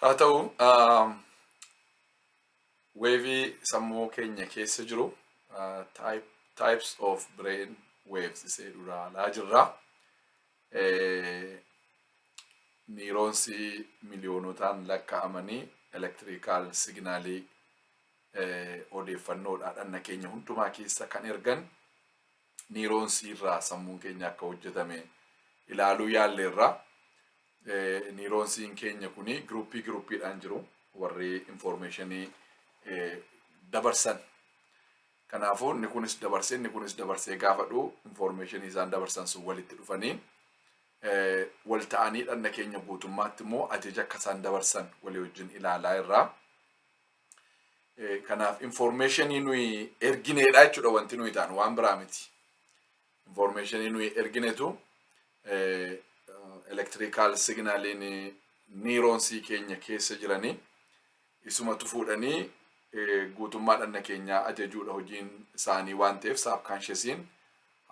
Haa ta'u weevii sammuu keenya keessa jiru types of brain waves isee duraalaa jirra. Niiroonsii miliyoonotaan lakkaa'amanii elektirikaal siginaalii odeeffannoodhaa dhanna keenya hundumaa keessa kan ergan niiroonsii irraa sammuun keenya akka hojjetame ilaaluu yaalleerra. Niiroonsiin keenya kun giruuppii giruuppiidhaan jiru warri infoormeeshinii dabarsan. Kanaafuu inni kunis dabarsee inni kunis dabarsee gaafa dhufu infoormeeshinii isaan dabarsan sun walitti dhufanii wal ta'anii dhanna keenya guutummaatti immoo ajaja akka isaan dabarsan walii wajjin ilaalaa irraa. Kanaaf information nuyi ergineedha jechuudha wanti nuyi taanu waan biraa miti. Information nuyi erginetu electrical signaliin niiroonsii keenya keessa jiranii isumatu fuudhanii guutummaa dhanna keenyaa ajajuudha hojiin isaanii waan ta'eef saabkaanshesiin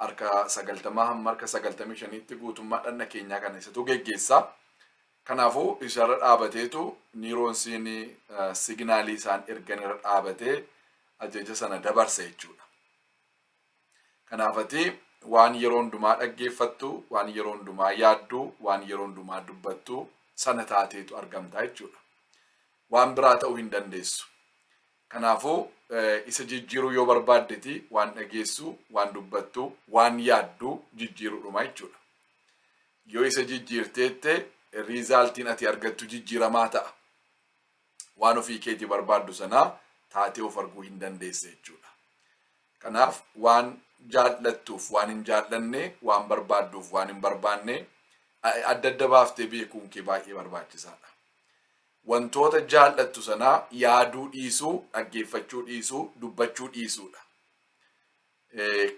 harka sagaltamaa hamma harka sagaltamii shaniitti guutummaa dhanna keenyaa kana isatu geggeessaa. Kanaafuu isarra dhaabateetu niiroonsiin signaalii isaan ergan irra dhaabatee ajaja sana dabarsa jechuudha. Kanaaf ati waan yeroo hundumaa dhaggeeffattu, waan yeroo hundumaa yaaddu, waan yeroo hundumaa dubbattu sana taateetu argamtaa jechuudha. Waan biraa ta'uu hin dandeessu. Kanaafuu, isa jijjiiruu yoo barbaaddeti waan dhageessu, waan dubbattu, waan yaaddu jijjiiruudhuma jechuudha. Yoo isa jijjiirteette riizaaltiin ati argattu jijjiiramaa ta'a. Waan ofii keetii barbaaddu sana taatee of arguu hin dandeessa jechuudha. Kanaaf waan jaallattuuf waan hin jaallanne, waan barbaadduuf waan hin barbaanne adda adda baaftee beekuun kee baay'ee barbaachisaadha. Wantoota jaal'attu sanaa yaaduu dhiisuu, dhaggeeffachuu dhiisuu, dubbachuu dhiisuudha.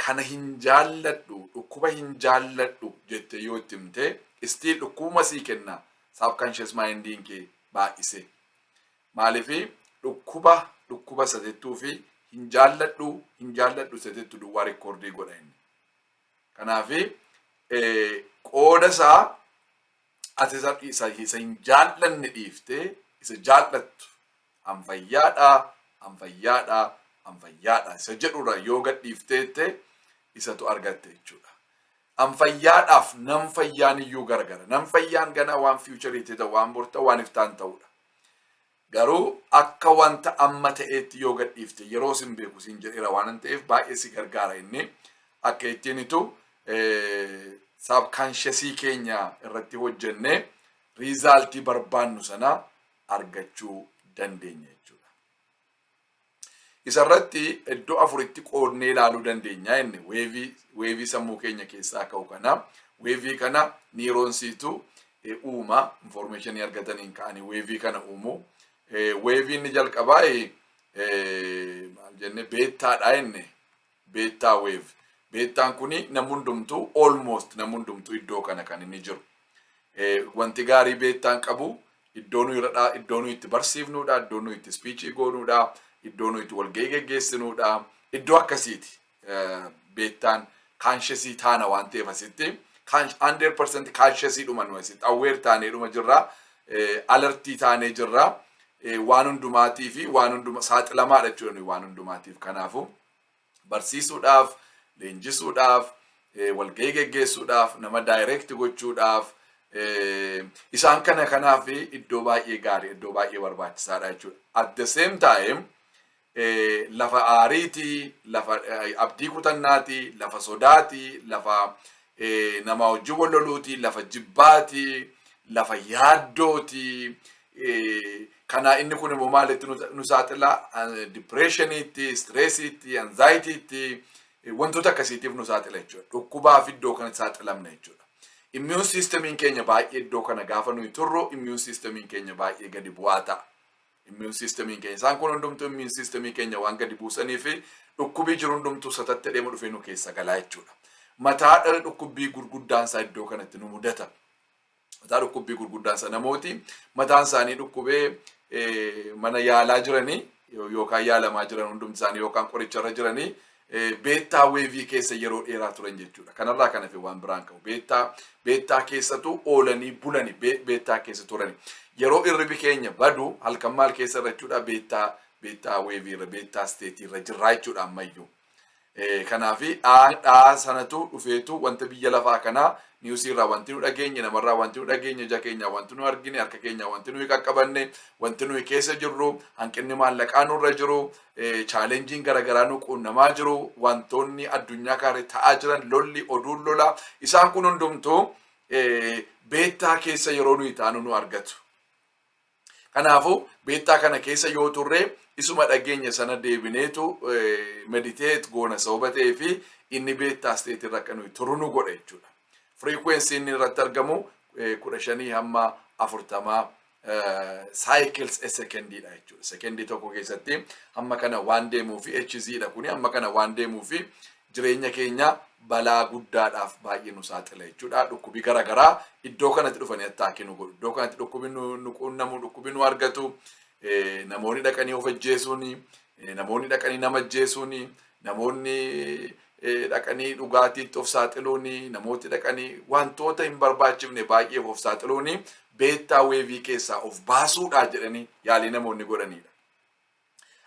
Kana hin jaalladhu, dhukkuba hin jaalladhu jettee yoo itti himte, still dhukkubuma sii kenna subconscious mind'n kee baay'isee. Maaliif dhukkuba dhukkuba isa jettuu fi hin jaalladhu hin jaalladhu isa jettu duwwaa rikkoordii godha inni. Kanaaf qooda isaa Ati isa, isa, isa hin jaallanne dhiiftee isa jaallattu an fayyaadha, an fayyaadha, an fayyaadha isa jedhurra yoo gad dhiiftee jettee isatu argatte jechuudha. An fayyaadhaaf nan fayyaan iyyuu gargara. Nan fayyaan ganaa waan fiichariitti ta'u, waan borta, waan iftaan ta'udha. Garuu akka wanta amma ta'eetti yoo gad dhiifte yeroo sin beeku siin jedheera waanan ta'eef baay'ee si gargaara inni akka ittiin itu saabkaanshesii keenya irratti hojjennee riizaaltii barbaannu sana argachuu dandeenya jechuudha. Isa irratti iddoo afuritti qoodnee ilaaluu dandeenya inni weevii weevii sammuu keenya keessaa ka'u kana weevii kana niiroonsiitu eh, uuma infoormeeshinii argataniin ka'anii weevii kana uumu Eh, weevii inni jalqabaa eh, eh, maal jenne beettaadha inni Beettaa wave. Beettaan kuni nam hundumtu almost nam hundumtu iddoo kana kan inni jiru. Eh, wanti gaarii beettaan qabu iddoo nuyi irra dhaa- iddoo nuyi itti barsiifnuudha, iddoo nuyi itti speechii goonuudha, iddoo nuyi itti walgahii geggeessinuudha. Iddoo akkasiiti eh, beettaan kaanshesii taana waan ta'eef asitti kaansh- 100% kaanshesii dhuma nuyi asitti awweer taanee dhuma jirra, eh, alertii taanee jirra, eh, waan hundumaatii fi waan hunduma saaxilamaadha jechuudha nuyi waan hundumaatiif kanaafuu. barsiisuudhaaf, leenjisuudhaaf, walgahii geggeessuudhaaf, nama direct gochuudhaaf, isaan kana kanaaf iddoo baay'ee gaarii, iddoo baay'ee barbaachisaadha jechuudha. At the same time, lafa aariitii, lafa abdii kutannaatii, lafa sodaatii, lafa namaa wajjin wal loluutii, lafa jibbaatii, lafa yaaddootii, Kanaa inni kun immoo maalitti nu saaxila? Dipireeshiniitti, istireesiitti, anzaayitiitti wantoota akkasiitiif nu saaxila jechuudha. Dhukkubaaf iddoo kanatti saaxilamna jechuudha. Immiyuun siistemiin keenya baay'ee iddoo kana gaafa nuyi turru immiyuun siistemiin keenya baay'ee gadi bu'aa ta'a. Immiyuun siistemiin keenya isaan kun hundumtuu immiyuun siistemii keenya waan gadi buusanii fi dhukkubii jiru hundumtuu satattee deema dhufee nu keessa galaa jechuudha. Mataa dhukkubbii gurguddaan isaa iddoo kanatti nu mudata. mataa dhukkubbii gurguddaan sana namooti mataan isaanii dhukkubee mana yaalaa jiranii yookaan yaalamaa jiran hundumti isaanii yookaan qoricharra jiranii beettaa weevii keessa yeroo dheeraa turan jechuudha. Kanarraa kan hafe waan biraan qabu. Beettaa beettaa keessatu oolanii bulani beettaa keessa turani. Yeroo irribi keenya badu halkan maal keessa irra jechuudha beettaa beettaa weevii irra beettaa isteetii irra jirraa jechuudha ammayyuu. Kanaafi dhaa sanatu dhufeetu wanta biyya lafaa kanaa niwusii irraa wanti nu dhageenye namarraa wanti nu dhageenye ija keenyaa wanti nu argine harka keenyaa wanti nuyi qaqqabanne wanti nuyi keessa jirru hanqinni maallaqaa nurra jiru chaalenjiin garaagaraa nu quunnamaa jiru wantoonni addunyaa kaarri ta'aa jiran lolli oduun lola isaan kun hundumtuu beettaa keessa yeroo nuyi taanu nu argatu. Kanaafuu beettaa kana keessa yoo turre isuma dhageenye sana deebineetu meditate goona sababa ta'ee fi inni beettaa state irra akka nuyi turu nu godha jechuudha. Frequency inni irratti argamu kudha shanii hamma afurtamaa cycles a second dha jechuudha. Sekendii tokko keessatti hamma kana waan deemuu fi HZ dha kuni hamma kana waan deemuu fi jireenya keenya balaa guddaadhaaf baay'ee nu saaxila jechuudha. Dhukkubi gara garaa iddoo kanatti dhufanii attaakii nu godhu. Iddoo kanatti dhukkubi nu nu quunnamu, dhukkubi nu argatu, eh, namoonni dhaqanii of ajjeesuuni, eh, namoonni dhaqanii nama ajjeesuuni, namoonni eh, dhaqanii dhugaatiitti of saaxiluuni, namooti dhaqanii wantoota hin barbaachifne baay'eef of saaxiluuni beettaa weevii keessaa of baasuudhaa jedhanii yaalii namoonni godhaniidha.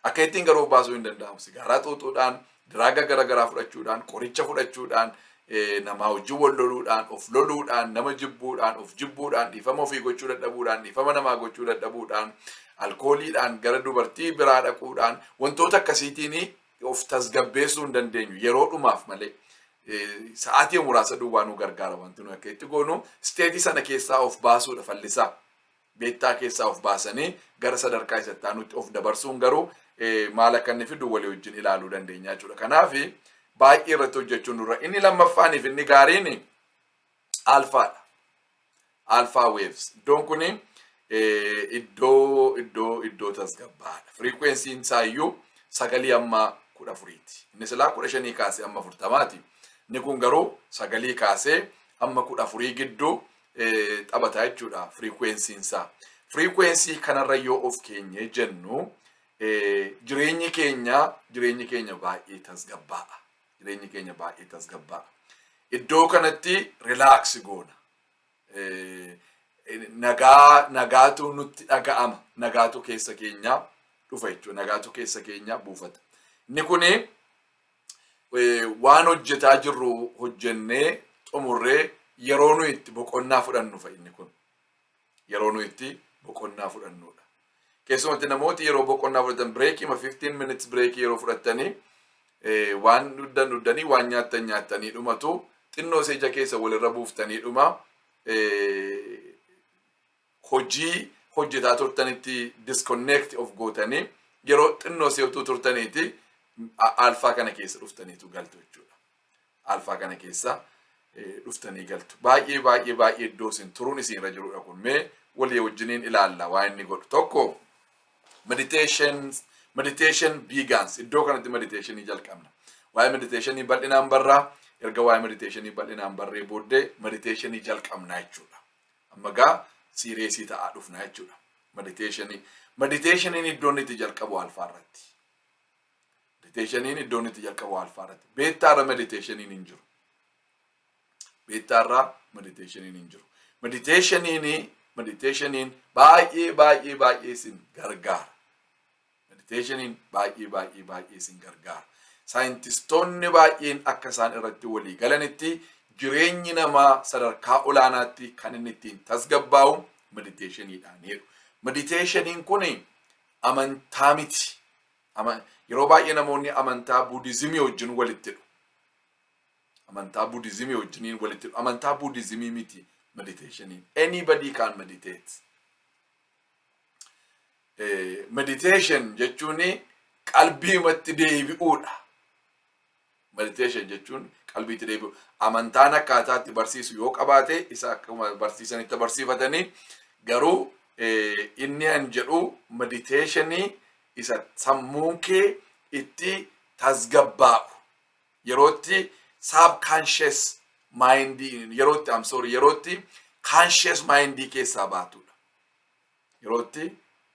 Akka ittiin garuu of baasuu hin danda'amu. Sigaaraa xuuxuudhaan, diraaga garaagaraa fudhachuudhaan, qoricha fudhachuudhaan, eh, namaa wajjin wal loluudhaan, of loluudhaan, nama jibbuudhaan, of jibbuudhaan, dhiifama ofii gochuu dadhabuudhaan, dhiifama namaa gochuu dadhabuudhaan, alkooliidhaan gara dubartii biraa dhaquudhaan wantoota akkasiitiin of tasgabbeessuu hin dandeenyu yeroo dhumaaf malee. Eh, Sa'aatii muraasa duwwaa nu gargaara wanti nuyi akka itti goonu isteetii sana keessaa of baasuudha fallisaa. beektaa keessaa of baasanii gara sadarkaa isa itti aanutti of dabarsuun garuu maal akka inni fidu walii wajjin ilaaluu dandeenya jechuudha. Kanaaf baay'ee irratti hojjechuun dura inni lammaffaaniif inni gaariin alfaadha. Alfaa waves iddoon kun iddoo iddoo iddoo tasgabbaadha. Firiikweensiin isaayyuu sagalii amma kudha afuriiti. Inni silaa kudha shanii kaasee amma afurtamaati. Inni kun garuu sagalii kaasee amma kudha afurii gidduu taphata jechuudha firiikweensiin isaa. Firiikweensii kanarra yoo of keenyee jennu jireenyi keenya jireenyi keenya baay'ee tasgabbaa'a. Jireenyi keenya baay'ee tasgabbaa'a. Iddoo kanatti rilaaksi goona. Nagaa nagaatu nutti dhaga'ama. Nagaatu keessa keenya dhufa jechuudha. Nagaatu keessa keenya buufata. Inni kuni waan hojjetaa jirru hojjennee xumurree yeroo nuyi itti boqonnaa fudhannu fa'i inni kun yeroo nuyi itti boqonnaa fudhannudha. Keessumatti namooti yeroo boqonnaa fudhatan bireekii ma 15 minutes bireekii yeroo fudhattanii waan dhuddan dhuddanii waan nyaattan nyaattanii dhumatu xinnoo seeja keessa walirra buuftanii dhuma hojii hojjetaa turtanitti disconnect of gootanii yeroo xinnoo seetuu turtaniiti alfaa kana keessa dhuftaniitu galtu jechuudha. Alfaa kana keessa dhuftanii galtu. Baay'ee baay'ee baay'ee iddoo isin turuun isin irra jirudha kun mee walii wajjiniin ilaalla waa inni godhu tokko meditations meditation begins iddoo kanatti meditationii jalqabna. Waa'ee meditationii bal'inaan barraa erga waa'ee meditationii bal'inaan barree booddee meditationii jalqabna jechuudha. Amma gaa siiriyeesii ta'aa dhufna jechuudha. Mediteeshinii. Mediteeshiniin iddoon itti jalqabu alfaa irratti. Mediteeshiniin iddoon itti jalqabu alfaa irratti. Beettaa irra mediteeshiniin hin jiru. Beettaa irra mediteeshiniin hin jiru. Mediteeshiniin mediteeshiniin baay'ee baay'ee baay'ee isin gargaara. Meditationiin baay'ee baay'ee baay'ee isin gargaara. Saayintistoonni baay'een akka isaan irratti walii galanitti jireenyi namaa sadarkaa olaanaatti kan inni ittiin tasgabbaa'u meditationiidhaan jedhu. Meditationiin kun amantaa miti. Ama- Yeroo baay'ee namoonni amantaa buudizimii wajjin walitti hidhu. Amantaa buudizimii wajjin walitti hidhu. Amantaa buudizimii miti meditationiin. Anybody can meditate. meditation jechuun qalbiimatti deebi'uudha. Meditation jechuun qalbiitti deebi'u. Amantaan akkaataa itti barsiisu yoo qabaate isa akkuma barsiisanitti barsiifatanii garuu inni an jedhu meditationii isa sammuun kee itti tasgabbaa'u yeroo itti subconscious mind yeroo itti I'm sorry yeroo itti conscious mind keessaa baatudha. Yeroo itti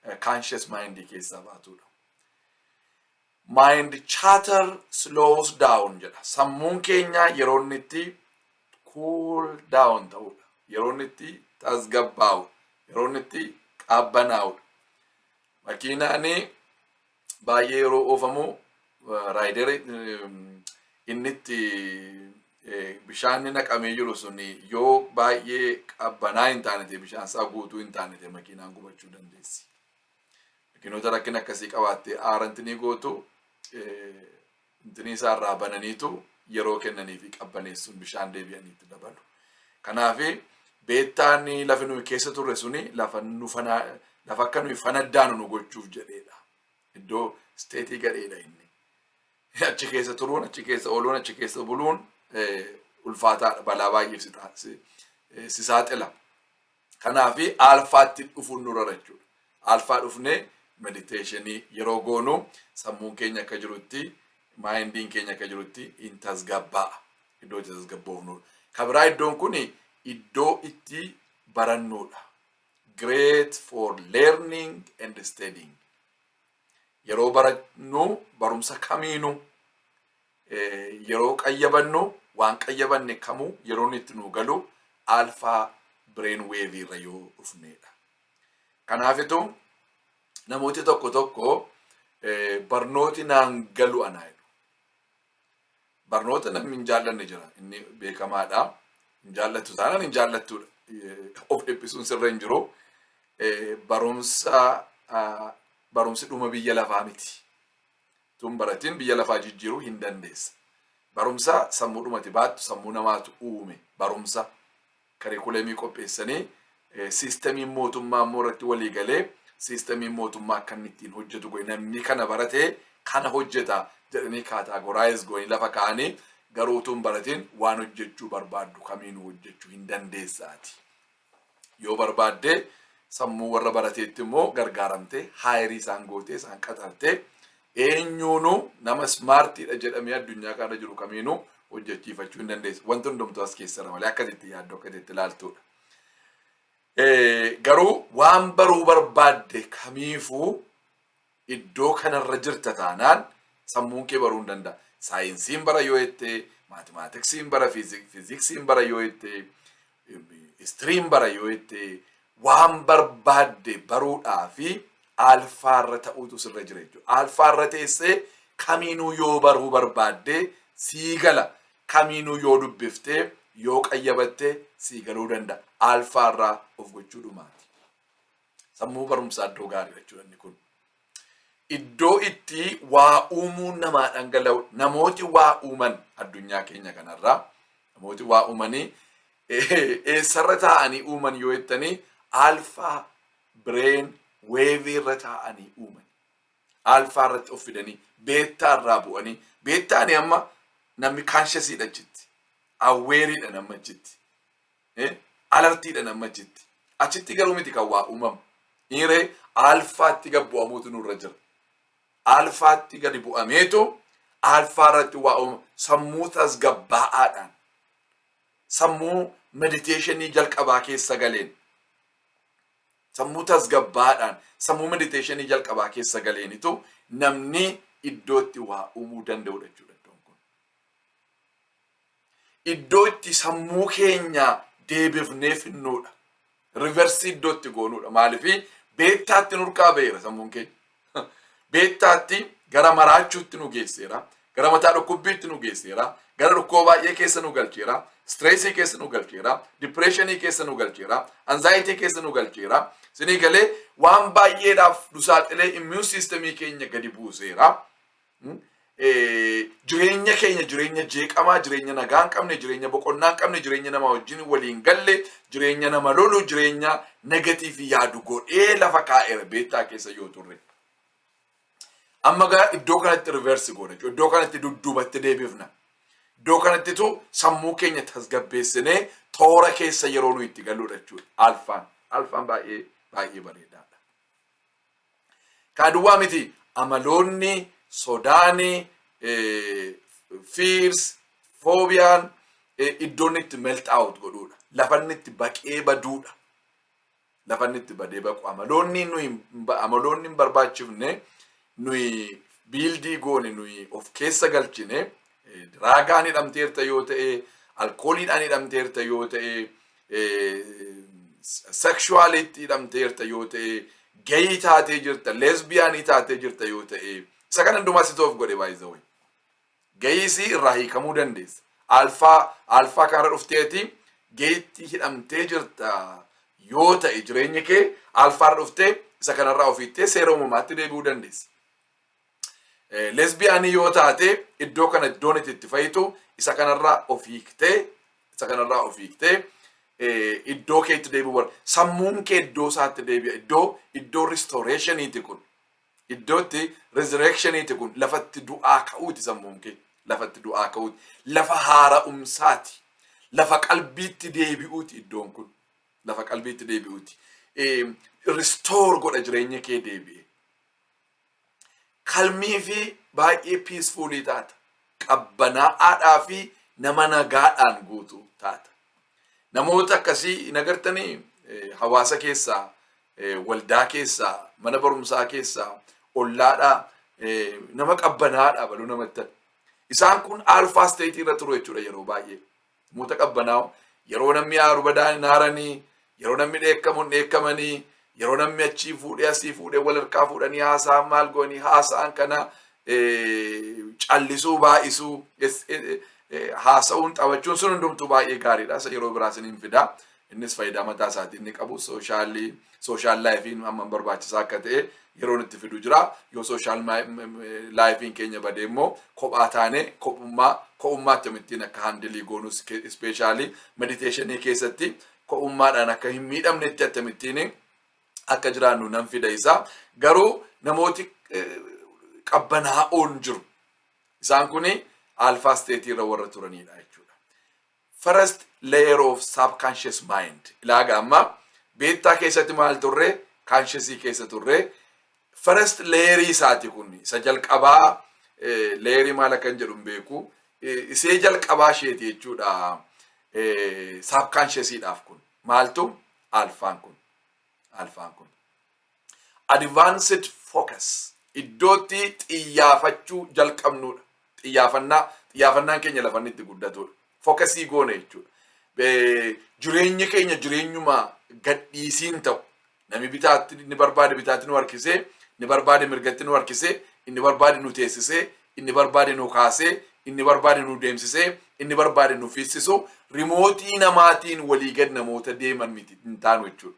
eh, conscious mind keessaa baatudha. Mind chatter slows down jedha. Sammuun keenya yeroo inni itti cool down ta'udha. Yeroo inni itti tasgabbaa'udha. Yeroo inni itti qabbanaa'udha. Makiinaani baay'ee yeroo oofamu raayideri inni itti bishaan naqamee jiru sun yoo baay'ee qabbanaa hin taanete bishaan isaa guutuu hin taanete makiinaan gubachuu dandeessi. Makiinota rakkina akkasii qabaattee aaranti ni gootu Intinii isaa irraa bananiitu yeroo kennaniifi qabbaneessuun bishaan deebi'anii itti dabalu. Kanaaf beettaan lafi nuyi keessa turre suni lafa nu fana lafa akka nuyi fanaddaanu nu gochuuf jedheedha. Iddoo isteetii gadheedha inni. Achi keessa turuun, achi keessa ooluun, achi keessa buluun eh, ulfaataadha. Balaa baay'eef si taasise. Eh, si saaxila. Kanaafi aalfaatti dhufuun nurra jira jechuudha. Aalfaa dhufnee mediteeshinii yeroo goonu sammuun keenya akka jirutti, maayindiin keenya akka jirutti hin tasgabbaa'a. Iddoo itti tasgabboofnudha. Ka biraa iddoon kun iddoo itti barannudha. Great for learning and studying. Yeroo barannu barumsa kamiinuu yeroo qayyabannu waan qayyabanne kamuu yeroon itti nuu galu alfaa bireen weevii irra yoo dhufneedha. Kanaafitu namooti tokko tokko barnooti naan galu anaa jedhu. Barnoota namni hin jaallanne jira inni beekamaadha. Hin jaallattu taanaan hin jaallattuudha. Of dhiphisuun sirra hin jiru. Barumsa barumsi dhuma biyya lafaa miti. Utuu hin baratiin biyya lafaa jijjiiruu hin dandeessa. Barumsa sammuudhumati baattu sammuu namaatu uume. Barumsa karikuuleemii qopheessanii siistamiin mootummaa immoo irratti walii galee siistamiin mootummaa akka inni ittiin hojjetu godhe namni kana barate kana hojjeta jedhanii kaataagoraayiz godhanii lafa kaa'anii garuu utuu hin baratiin waan hojjechuu barbaaddu kamiinuu hojjechuu hin dandeessaati. Yoo barbaadde sammuu warra barateetti immoo gargaaramtee haayirii isaan gootee isaan qaxartee eenyuunu nama ismaartiidha jedhamee addunyaa kana jiru kamiinuu hojjechiifachuu hin dandeessu. Wanti hundumtuu as keessara malee akka itti yaaddu akka itti ilaaltudha. Garuu waan baruu barbaadde kamiifuu Iddoo kanarra jirta taanaan sammuun kee baruu hin danda'a. Saayinsiin bara yoo jette, maatimaatiksiin bara, fiizik- fiiziksiin bara yoo jette, istiriin bara yoo jette, waan barbaadde baruudhaa fi alfaarra ta'uutu sirra jira jechuudha. Alfaarra teessee kamiinuu yoo baruu barbaadde sii gala. Kamiinuu yoo dubbiftee yoo qayyabatte sii galuu danda'a. Alfaarraa of gochuu dhumaati. Sammuu barumsaa iddoo gaarii jechuudha inni kun. Iddoo itti waa uumuu namaa dhangala'u namooti waa uuman addunyaa keenya kanarraa namooti waa uumanii eessarra taa'anii uuman yoo jettanii alfaa bireen weevii irra taa'anii uuman. Alfaa irratti of fidanii beettaa irraa bu'anii beettaani amma namni kaanshasiidha achitti awweeriidha namni achitti. Eh, alartiidhan amma achitti. Achitti garuu miti kan waa uumamu. Hiiree alfaatti gad bu'amuutu nurra jira. Alfaatti gadi bu'ameetu alfaa irratti waa uuma. Sammuu tasgabbaa'aadhaan. Sammuu mediteeshinii jalqabaa keessa galeen. Sammuu tasgabbaa'aadhaan. Sammuu mediteeshinii jalqabaa keessa galeenitu namni iddootti waa uumuu danda'udha jechuudha iddoon kun. iddoo itti sammuu keenya deebifnee finnuudha. Riversii iddoo itti goonuudha. Maaliif beektaatti nurkaa ba'eera sammuun keenya. Beektaatti gara maraachuutti nu geesseera. Gara mataa dhukkubbiitti nu geesseera. Gara dhukkuba baay'ee keessa nu galcheera. Stireesii keessa nu galcheera. Dipireeshinii keessa nu galcheera. Anzaayitii keessa nu galcheera. Sinii galee waan baay'eedhaaf nu saaxilee immiyuun siistemii keenya gadi buuseera. jireenya keenya jireenya jeeqamaa jireenya nagaa hin qabne jireenya boqonnaa hin qabne jireenya nama wajjin waliin galle jireenya nama lolu jireenya negatiif yaadu godhee lafa kaa'eera beektaa keessa yoo turre. Amma gara iddoo kanatti riversi goona jechuudha. Iddoo kanatti dudduubatti deebifna. Iddoo kanattitu sammuu keenya tasgabbeessinee toora keessa yeroo nuyi itti galudha jechuudha. Alfaan. Alfaan baay'ee baay'ee bareedaadha. Kaa duwwaa miti amaloonni sodaani fears foobiyaan iddoonni itti melt out godhuudha. Lafanni itti baqee baduudha. Lafanni itti badee baqu amaloonni nuyi amaloonni hin barbaachifne nuyi biildii goone nuyi of keessa galchine diraagaan hidhamteerta yoo ta'e, alkooliidhaan hidhamteerta yoo ta'e, sekshuwaaliitti hidhamteerta yoo ta'e, gayii taatee jirta, lesbiyaanii taatee jirta yoo ta'e, isa kana hundumaa situ of godhe baay'isawwan. Gayiisii irraa hiikamuu dandeessa. Alfaa alfaa kanarra dhufteeti gayiitti hidhamtee jirta yoo ta'e jireenyi kee alfaarra dhuftee isa kanarraa ofiittee seera uumamaatti deebi'uu dandeessa. Lesbiyaanii yoo taate iddoo kana iddoon itti itti fayitu isa kanarraa of hiiktee isa kanarraa of hiiktee iddoo keetti deebi'u barbaada. Sammuun kee iddoo isaatti deebi'a. Iddoo iddoo restoreeshiniiti kun. Iddoo itti resurrectioniiti kun. Lafatti du'aa ka'uuti sammuun kee. Lafatti du'aa ka'uuti. Lafa haara'umsaati. Lafa qalbiitti deebi'uuti iddoon kun. Lafa qalbiitti deebi'uuti. Restore godha jireenya kee deebi'e. Kalmii fi baay'ee peacefulii taata. Qabbanaa'aadhaa fi nama nagaadhaan guutu taata. Namoota akkasii hin agartanii Eh, hawaasa keessaa, eh, waldaa keessaa, mana barumsaa keessaa, ollaadhaa eh, nama qabbanaa'aadhaa baluu namatti tana. Isaan kun alfaa isteetii irra turu jechuudha yeroo baay'ee. Namoota qabbanaa'oo yeroo namni aaru badaan hin aaranii, yeroo namni dheekkamu hin dheekkamanii, yeroo namni achii fuudhee asii fuudhee wal harkaa fuudhanii haasa'an maal goonii haasa'an kana callisuu baay'isuu haasa'uun taphachuun sun hundumtuu baay'ee gaariidha. Isa yeroo biraa isiniin fidaa. Innis fayidaa mataa isaatii inni qabu sooshaalii sooshaal laayifiin amma barbaachisaa akka ta'e yeroon itti fidu jira. Yoo sooshaal laayifiin keenya badee immoo kophaa taane kophummaa ko'ummaa akkamittiin akka handilii goonus ispeeshaalii mediteeshinii keessatti ko'ummaadhaan akka hin miidhamnetti akkamittiin akka jiraannu nan fida isa. Garuu namooti qabbanaa'oon jiru. Isaan kun alfaa isteetii irra warra turanidha jechuudha. First layer of subconscious mind ilaaga amma beettaa keessatti maal turre consciousii keessa turre first layerii isaati kun isa jalqabaa layerii maal akkan jedhu hin beeku isee jalqabaa isheeti jechuudha subconsciousii dhaaf kun maaltu alfaan kun alfaan kun Advanced Focus, iddootti xiyyaafachuu jalqabnuudha. Xiyyaafannaa, xiyyaafannaan keenya lafa inni itti guddatuudha. Fokasii goone jechuudha. Jireenyi keenya jireenyuma gadhiisiin ta'u. Nami bitaatti inni barbaade bitaatti nu harkisee, inni barbaade mirgatti nu harkisee, inni barbaade nu teessisee, inni barbaade nu kaasee, inni barbaade nu deemsisee, inni barbaade nu fiissisu rimootii namaatiin walii gad namoota deeman miti hin taanu jechuudha.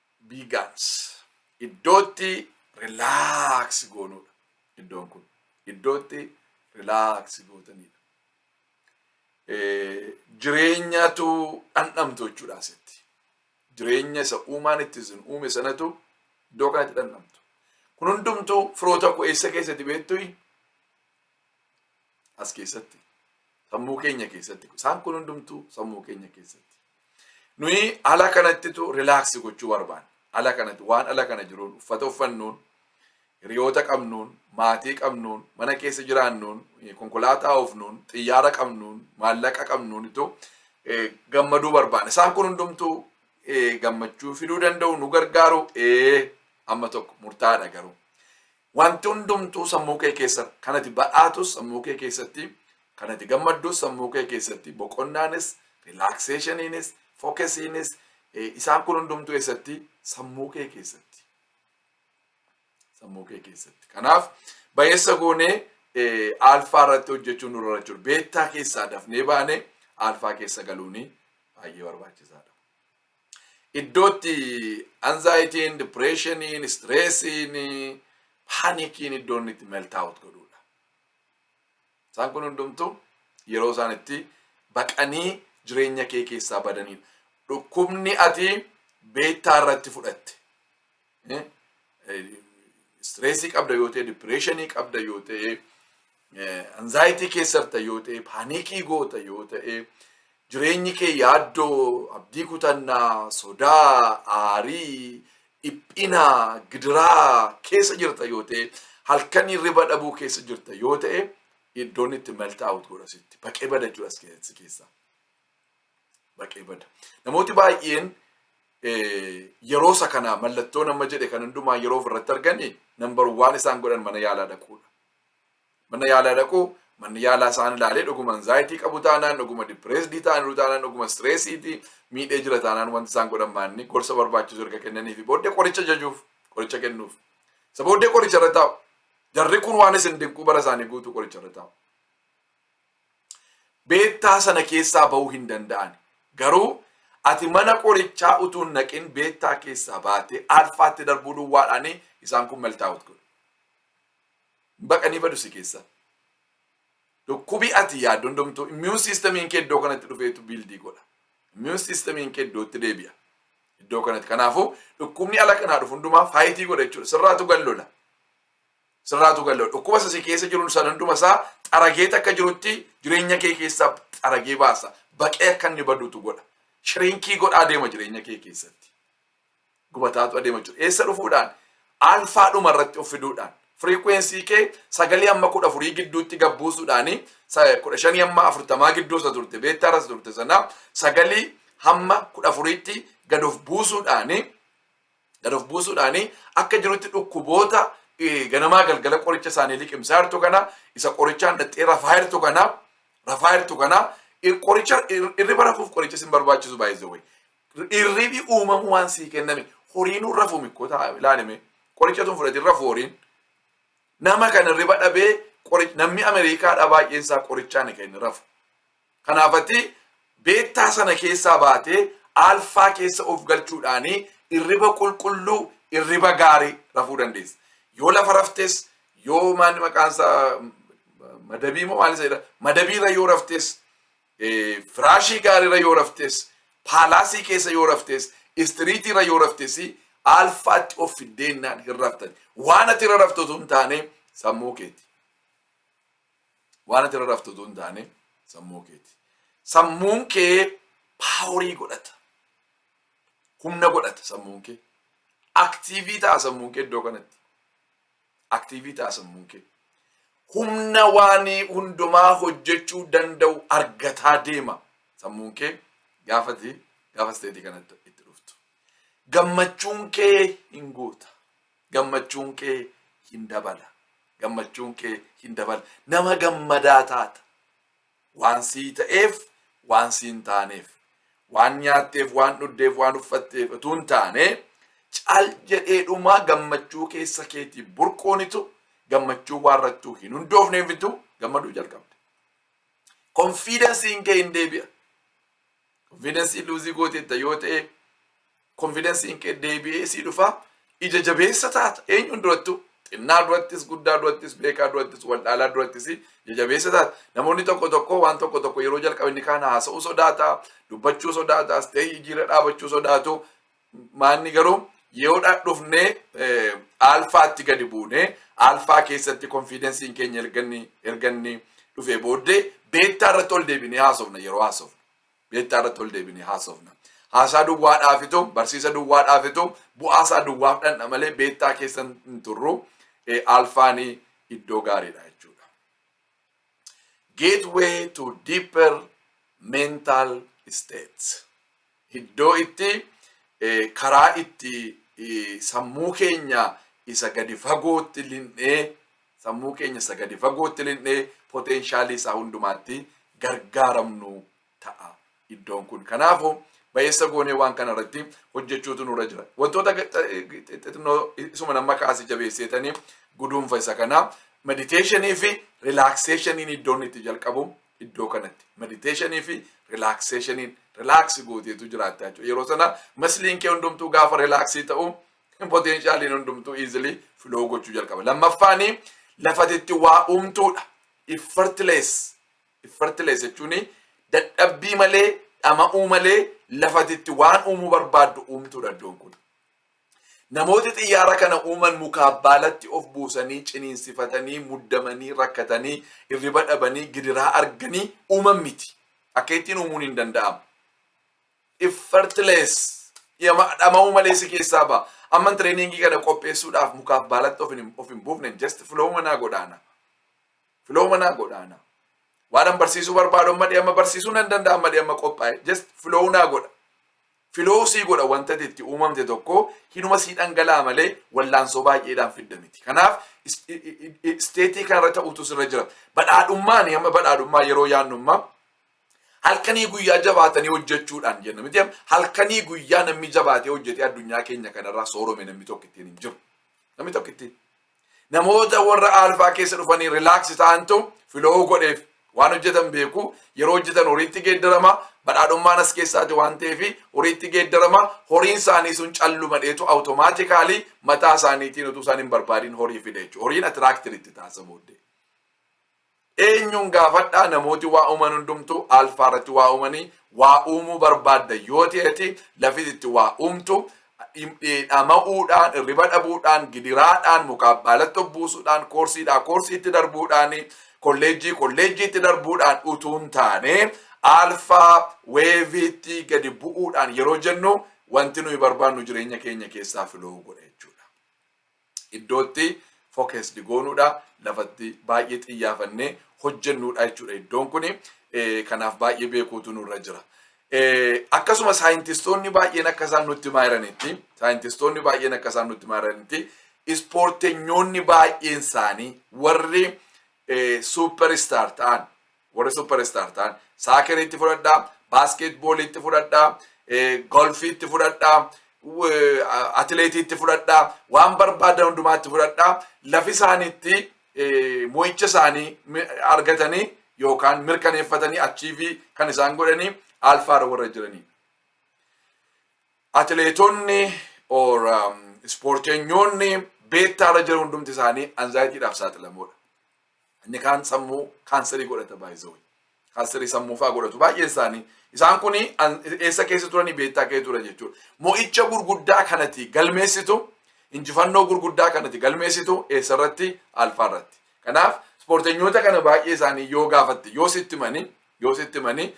Biigans iddootti rilaaksi goonuudha. Iddoon kun iddootti rilaaksi gootaniidha. Jireenyatu dhandhamtu jechuudha asitti. Jireenya isa uumaan itti isin uume sanatu iddoo kanatti dhandhamtu. Kun hundumtuu firoota koo eessa keessatti beektuyi? As keessatti. Sammuu keenya keessatti. Isaan kun hundumtuu sammuu keenya keessatti. Nuyi ala kanattitu rilaaksi gochuu barbaanna. Ala kanatti waan ala kana jiruun uffata uffannuun, hiriyoota qabnuun, maatii qabnuun, mana keessa jiraannuun, konkolaataa oofnuun, xiyyaara qabnuun, maallaqa qabnuun itu gammaduu barbaanna. Isaan kun hundumtuu gammachuu fiduu danda'u nu gargaaru ee amma tokko murtaa'aadha garuu. Wanti hundumtuu sammuu kee keessa kan ati badhaatus sammuu kee keessatti kan ati gammaddus sammuu kee keessatti boqonnaanis rilaakseeshiniinis fookesiinis isaan kun hundumtuu eessatti sammuu kee keessatti sammuu kee keessatti kanaaf bayeessa goonee aalfaa irratti hojjechuu nurra jiru beettaa keessaa dafnee baanee aalfaa keessa galuuni baay'ee barbaachisaadha. iddootti anzaayitiin, dipireeshiniin, istireesiin, paanikiin iddoo inni itti meltaawut godhuudha. Isaan kun hundumtuu yeroo isaan itti baqanii jireenya kee keessaa badaniidha. Dhukkubni ati beektaa irratti fudhatte Istireesii qabda yoo ta'e, dipireeshinii qabda yoo ta'e, anzaayitii keessarta yoo ta'e, paaniikii goota yoo ta'e, jireenyi kee yaaddoo, abdii kutannaa, sodaa, aarii, dhiphina, gidiraa keessa jirta yoo ta'e, halkan hirriba dhabuu keessa jirta yoo ta'e, iddoon itti melt out godha sitti. Baqee bada jira si keessaa. baqee bada. Namooti baay'een yeroo isa kana mallattoo nama jedhe kan hundumaa yeroo ofirratti arganii nambar waan isaan godhan mana yaalaa dhaquudha. Mana yaalaa dhaquu manni yaalaa isaan ilaalee dhuguma anzaayitii qabu taanaan dhuguma dipireesdii taaniruu taanaan dhuguma sireesiitii miidhee jira taanaan wanti isaan godhan maanni gorsa barbaachisu erga kennaniifi booddee qoricha jajuuf qoricha kennuuf. Isa booddee qoricha irra taa'u. Jarri kun waan isin dinquu bara isaanii guutuu qoricha irra taa'u. beettaa sana keessaa ba'uu hin danda'ani. Garuu ati mana qorichaa utuu hin dhaqin beettaa keessaa baatee alfaatti darbuu duwwaadhaan isaan kun meltaawut godhu. Baqanii badu si keessaa. Dhukkubi ati yaaddoon domtuu immiyuun siistamiin kee iddoo kanatti dhufeetu biildii godha. Immiyuun siistamiin kee iddootti deebi'a. Iddoo kanatti. Kanaafuu dhukkubni ala kanaa dhufu hundumaa faayitii godha jechuudha. Sirraatu gallola. Sirraatu gallo. Dhukkuba isa si keessa jiru san hunduma isaa xaragee takka jirutti jireenya kee keessaa xaragee baasa. Baqee akka inni badutu godha. Shirinkii godha adeema jireenya kee keessatti. Gubataatu adeema jiru. Eessa dhufuudhaan? Alfaa dhuma irratti of fiduudhaan. Firiikwensii kee sagalee amma kudha afurii gidduutti gabbuusuudhaan kudha shanii amma afurtamaa gidduu isa turte beektaa irra isa turte sana sagalii hamma kudha afuriitti gad of buusuudhaan Gad of buusuudhaan akka jirutti dhukkuboota eh, ganamaa galgala qoricha isaanii liqimsaa jirtu kana isa qorichaan dhaxxee rafaa jirtu kana rafaa jirtu kana ir- qoricha ir- irriba rafuuf qoricha sin barbaachisu baay'ee way. Irribi uumamu waan sii kenname horiinuu rafu mikkoo ta'a ilaalime qoricha tun fudhatiin rafu horiin. nama kan irriba dhabee qori- namni Ameerikaadhaa baay'een isaa qorichaan kan inni rafu. Kanaaf ati beettaa sana keessaa baatee aalfaa keessa of galchuudhaan irriba qulqulluu, irriba gaarii rafuu dandeessa. Yoo lafa raftes, yoo maanni maqaan isaa madabii moo maal isa jedha? Madabiirra yoo raftes, eh, firaashii gaariirra yoo raftes, paalaasii keessa yoo raftes, istiriitiirra yoo raftes, aalfaatti of fiddeennaan hin raftani. Waan ati irra raftu osoo hin taane sammuu keeti. Waan ati irra raftu utuu hin taane sammuu keeti. Sammuun kee paaworii godhata. Humna godhata sammuun kee. Aktiivii ta'a sammuun kee iddoo kanatti. Aktiivii ta'a sammuun kee. Humna waan hundumaa hojjechuu danda'u argataa deema sammuun kee gaafati gaafa isteetii kanatti itti dhuftu. Gammachuun kee hin guuta. gammachuun kee hin dabala gammachuun kee hin dabala nama gammadaa taata waan sii ta'eef waan sii hin taaneef waan nyaatteef waan dhugdeef waan uffatteef utuu hin taane cal jedheedhumaa gammachuu keessa keetii burquunitu gammachuu waan irrattuu hin hundoofneefitu gammaduu jalqabde. Konfiidansiin kee hin deebi'a. Konfiidansii luuzii gooteetta yoo ta'e konfidensiin kee deebi'ee sii dhufa ija jabeessa taata eenyuun durattu xinnaa durattis guddaa durattis beekaa durattis waldhaalaa durattis ija jabeessa taata namoonni tokko tokko waan tokko tokko yeroo jalqabe ni kaan haasa'uu sodaata dubbachuu sodaata astee jijjiirra dhaabachuu sodaatu maanni garuu yeroodha dhufnee eh, aalfaatti gadi buunee aalfaa keessatti konfidensiin keenya erganni erganni dhufee booddee beettaa irratti ol deebinee haasofna yeroo haasofna. Beektaa irratti ol deebinee haasofna. Haasaa duwwaa dhaafitu, barsiisa duwwaa dhaafitu, bu'aa isaa duwwaaf dhandha malee beektaa keessa hin turru. Alfaani iddoo gaariidha jechuudha. Gateway to deeper mental states. Iddoo itti karaa itti sammuu keenya isa gadi fagootti linnee Sammuu keenya isa gadi fagootti linnee poteenshaalii isaa hundumaatti gargaaramnu ta'a iddoon kun. Kanaafu ba'eessa goonee waan kana irratti hojjechuutu nurra jira. Wantoota xixinnoo isuma nama kaase jabeesseetanii guduunfa isa kana mediteeshinii fi rilaakseeshiniin iddoon itti jalqabu iddoo kanatti. Mediteeshinii fi rilaakseeshiniin rilaaksi gooteetu jiraatta jechuudha. Yeroo sana masliin kee hundumtuu gaafa rilaaksii ta'u Potenshaaliin hundumtuu easily flow gochuu jalqaba. Lammaffaanii lafatitti waa uumtuudha. Effortless. Effortless jechuun dadhabbii malee dhama'uu malee lafatitti waan uumuu barbaaddu uumtuudha iddoon kun. Namooti xiyyaara kana uuman mukaa baalatti of buusanii ciniinsifatanii muddamanii rakkatanii irriba dhabanii gidiraa arganii uuman miti. Akka ittiin uumuun hin danda'amu. effortless dhiyama dhama'uu malee si keessaa ba'a. Amman tireeningii kana qopheessuudhaaf mukaaf baalatti of hin of hin buufne just filooma naa godhaana. Filooma naa godhaana. Waan an barsiisuu barbaadu amma dhiyama barsiisuu nan danda'a amma dhiyama qophaa'e just filoo naa godha. Filoo sii godha wanta ati itti uumamte tokko hinuma sii dhangala'a malee wallaansoo baay'eedhaan fidda miti. Kanaaf is- i- i- i- isteetii kanarra ta'utu sirra jira. Badhaadhummaan amma badhaadhummaa yeroo yaadnu amma Halkanii guyyaa jabaatanii hojjechuudhaan jenna miti halkanii guyyaa namni jabaatee hojjetee addunyaa keenya kanarraa soorome namni tokko ittiin hin jiru. Namni tokko ittiin. Namoota warra aalfaa keessa dhufanii rilaaks ta'antu filoo godheef waan hojjetan beeku yeroo hojjetan horiitti geeddarama badhaadhummaan as keessaati waan ta'eef horiitti geeddarama horiin isaanii sun calluma dheetu awutomaatikaalii mataa isaaniitiin utuu isaan hin barbaadin horii fide jechuudha. Horiin atiraaktir itti taasisa booddee. Eenyuun gaafadhaa namooti waa uuman hundumtu alfaa irratti waa uumanii waa uumuu barbaadda yoo ta'eti lafiti itti waa uumtu dhama'uudhaan irriba dhabuudhaan gidiraadhaan mukaaf baalatti obbuusuudhaan koorsiidhaa koorsiitti darbuudhaan kolleejjii kolleejjiitti darbuudhaan utuu hin taane alfaa weeviitti gadi bu'uudhaan yeroo jennu wanti nuyi barbaannu jireenya keenya keessaa filoo godha jechuudha. iddoo itti focused goonuudha. Lafa itti baay'ee xiyyaafannee hojjennuudha jechuudha iddoon kun. Kanaaf baay'ee beekuutu nurra jira. Akkasuma saayintistoonni baay'een akka isaan nutti himaa jiranitti saayintistoonni baay'een akka isaan nutti himaa jiranitti ispoortenyoonni baay'een isaanii warri suuperistar ta'an Warri super star ta'an saakerii itti fudhadhaa, baaskeet boolii itti fudhadhaa, golfii itti fudhadhaa, atileetii itti fudhadhaa, waan barbaadan hundumaa itti fudhadhaa, lafi isaaniitti mo'icha isaanii argatanii yookaan mirkaneeffatanii achiivii kan isaan godhanii alfaarra warra jiranii. Atileetonni or ispoorteenyoonni beettaarra jiran hundumti isaanii anzaayitiidhaaf saaxilamoodha. Inni kaan sammuu kaanserii godhata baay'isawee. Kaanserii sammuu fa'aa godhatu baay'een isaanii. Isaan kun eessa keessa turanii beektaa kee ture jechuudha. Mo'icha gurguddaa kanati galmeessitu injifannoo gurguddaa kanati galmeessitu eessa irratti alfaa irratti. Kanaaf ispoortenyoota kana baay'ee isaanii yoo gaafatte yoo sitti manii yoo sitti manii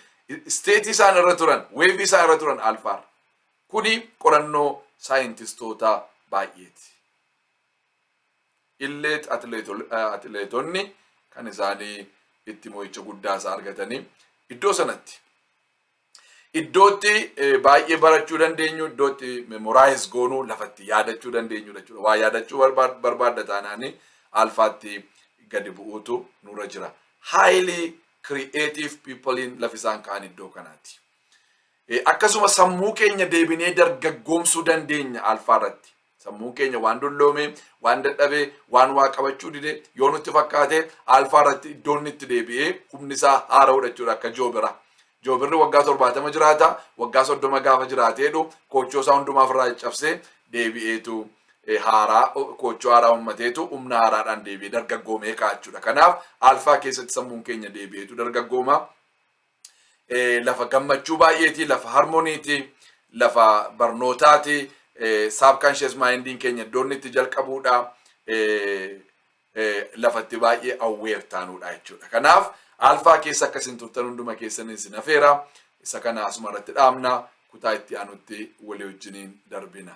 isteetii isaan irra turan weevii isaan irra turan alfaarra. Kuni qorannoo saayintistoota baay'eeti. Illeet atileetonni kan isaanii itti mo'icha guddaa isaa argatanii iddoo sanatti iddootti baay'ee barachuu dandeenyu iddootti memoraayiz goonuu lafatti yaadachuu dandeenyu jechuudha. Waa yaadachuu barbaadda taanaanii alfaatti gadi bu'uutu nurra jira. Highly creative people'n lafisaan ka'an iddoo kanaati. Akkasuma sammuu keenya deebinee dargaggoomsuu dandeenya alfaa irratti. Sammuun keenya waan dulloomee, waan dadhabee, waan waa qabachuu dide yoo nutti fakkaate alfaa irratti iddoo inni itti deebi'ee humni isaa haara'udha jechuudha akka joobira. Joobirri waggaa torbaatama jiraata, waggaa soddoma gaafa jiraateedhu koochoo isaa hundumaa ofirraa caccabsee deebi'eetu haaraa koochoo haaraa uummateetu humna haaraadhaan deebi'ee dargaggoomee ka'a jechuudha. Kanaaf alfaa keessatti sammuun keenya deebi'eetu dargaggooma. eh, lafa gammachuu baay'eeti, lafa harmoniiti, lafa barnootaati, eh, subconscious mindin keenya iddoo inni itti jalqabuudha, eh, eh, lafa itti baay'ee aware taanuudha jechuudha. Kanaaf alfaa keessa akka isin turtan hunduma keessan isin hafeera. Isa kana asuma irratti dhaabna kutaa itti aanutti walii wajjiniin darbina.